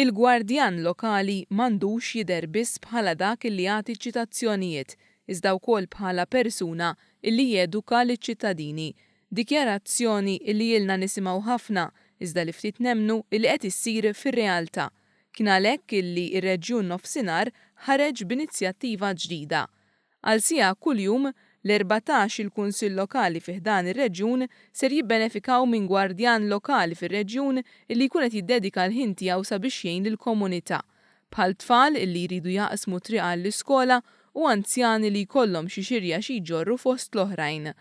Il-gwardjan lokali m'għandux jidher biss bħala dak li jagħti ċ-ċitazzjonijiet, iżda wkoll bħala persuna li jeduka liċ-ċittadini. Dikjarazzjoni li ilna nisimgħu ħafna, iżda li ftit nemmnu li qed issir fir-realtà. Kien għalhekk li r-Reġjun Nofsinhar ħareġ b'inizjattiva ġdida. Għal siegħa kuljum, l-erbatax il-Kunsill Lokali fi ħdan ir-reġjun ser jibbenefikaw minn gwardjan lokali fir-reġjun illi jkun qed jiddedika l-ħin tiegħu sabiex jgħin lill-komunità, bħal tfal illi jridu jaqsmu t-triq għall-iskola u anzjani li jkollhom xi xirja xi jġorru fost l-oħrajn.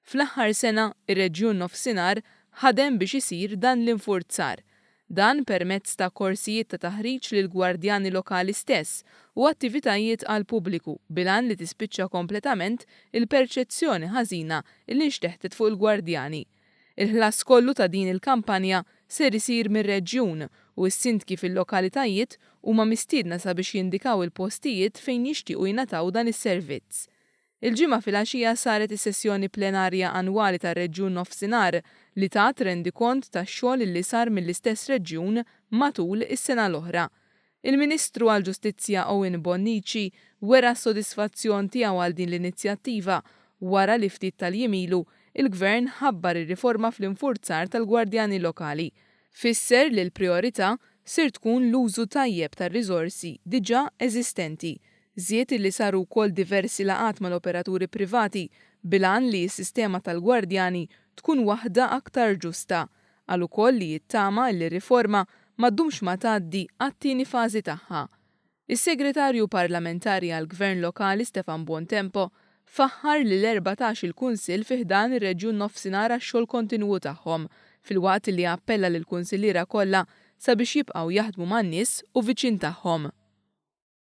Fl-aħħar sena, ir-Reġjun Nofsinhar ħadem biex isir dan l-infurzar. Dan permezz ta' korsijiet ta' taħriġ lill-gwardjani lokali stess u attivitajiet għall-pubbliku bil-għan li tispiċċa kompletament il-perċezzjoni ħażina li nxteħtet fuq il-gwardjani. Il-ħlas kollu ta' din il-kampanja ser isir mir-Reġjun u s-Sindki fil-lokalitajiet huma mistiedna sabiex jindikaw il-postijiet fejn jixtiequ jingħataw dan is-servizz. Il-Ġimgħa filgħaxija saret is-sessjoni plenarja annwali tar-Reġjun Nofsinhar li tat rendikont tax-xogħol li sar mill-istess reġjun matul is-sena l-oħra. Il-Ministru għall-Ġustizzja Owen Bonnici wera s-sodisfazzjon tiegħu għal din l-inizjattiva wara li ftit tal-jiem ilu l-Gvern ħabbar ir-riforma fl-infurzar tal-gwardjani lokali. Fisser li l-prijorità ser tkun l-użu tajjeb tar-riżorsi diġà eżistenti Żied illi saru wkoll diversi laqgħat mal-operaturi privati bil-għan li s-sistema tal-gwardjani tkun waħda aktar ġusta. Qal ukoll li jittama illi r-riforma ma ddumx ma tgħaddi għat-tieni fażi tagħha. Is-Segretarju Parlamentari għall-Gvern Lokali Stefan Buontempo faħħar lill-erbatax il Kunsill fi ħdan ir-Reġjun Nofsinhar għax-xogħol kontinwu tagħhom filwaqt illi appella lill-Kunsilliera kollha sabiex jibqgħu jaħdmu man-nies u viċin tagħhom.